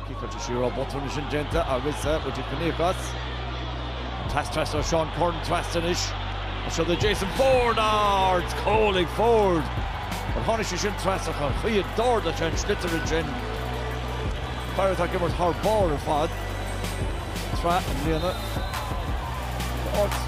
Tá sé an botún sin déanta arís ag Finney across. Trasna ó Seán Curran trasna anois. Seo é Jason Forde ar an gcúl ag Forde. An tháinig sé sin trasna ach an chaoi a d'ardaigh sé an sliotar ansin. Fear atá ag imirt thar barr ar fad tráth an bhliana. Tá áit.